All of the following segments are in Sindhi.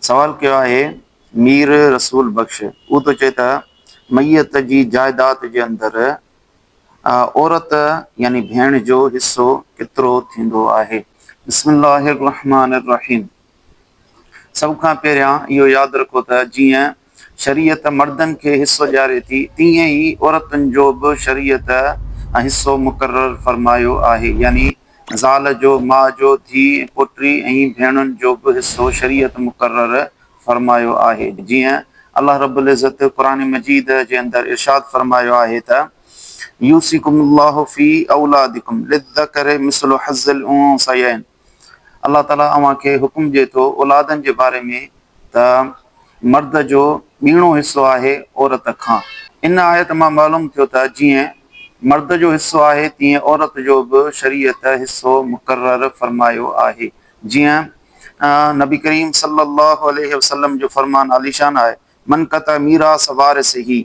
سوال ڪيو آهي مير رسول بخش هو ٿو چئي ته ميت جي جائداد جي اندر عورت يعني ڀيڻ جو حصو ڪيترو ٿيندو آهي. بسم الله الرحمٰن الرحيم سڀ کان پهريان اهو ياد رکو ته جيئن شريعت مردن کي حصو ڏياري ٿي، تيئن ئي عورتن جو به شريعت حصو مقرر فرمايو آهي، يعني زال جو، ماء جو، ڌيء، پوٽري ۽ ڀيڻن جو به حصو شريعت مقرر فرمايو آهي، جيئن الله رب العزت قرآن مجيد جي اندر ارشاد فرمايو آهي ته، يوصيڪم الله في اولادڪم، للذڪر مثل حظ الانثيين. الله تعاليٰ اوهان کي حڪم ڏئي ٿو اولادن جي باري ۾ ته مرد جو ٻيڻو حصو آهي عورت کان. ان آيت مان معلوم ٿيو ته جيئن مرد جو حصو آهي تيئن عورت جو به شريعت حصو مقرر فرمايو آهي. جيئن نبي ڪريم صلّي اللّٰه عليه وسلّم جو فرمان عاليشان آهي، من قطع ميراث وارثه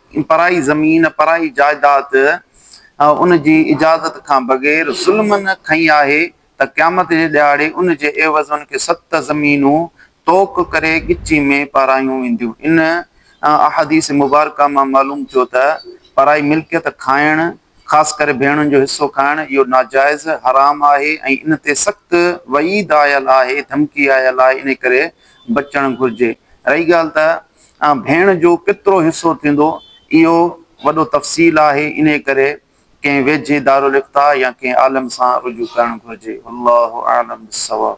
پرائي زمين، پرائي جائداد ان جي اجازت کان بغير ظلمن کنئي آهي ته قيامت جي ڏهاڙي ان جي عيوض ان کي ست زمينون طوق ڪري ڳچي ۾ پارايون وينديون. ان احاديث مبارڪه مان معلوم ٿيو ته پرائي ملڪيت کائڻ، خاص ڪري ڀيڻن جو حصو کائڻ، اهو ناجائز، حرام، آهي ۽ ان تي سخت وعيد آيل آهي، ڌمڪي آيل آهي، انهي ڪري بچڻ گهرجي. رهي ڳالهه ته ۽ ڀيڻ جو ڪيترو حصو ٿيندو اهو وڏو تفصيل آهي انهي ڪري ڪنهن ويجهي دارالافتاء يا ڪنهن عالم سان رجوع ڪرڻ گهرجي والله اعلم بالصواب.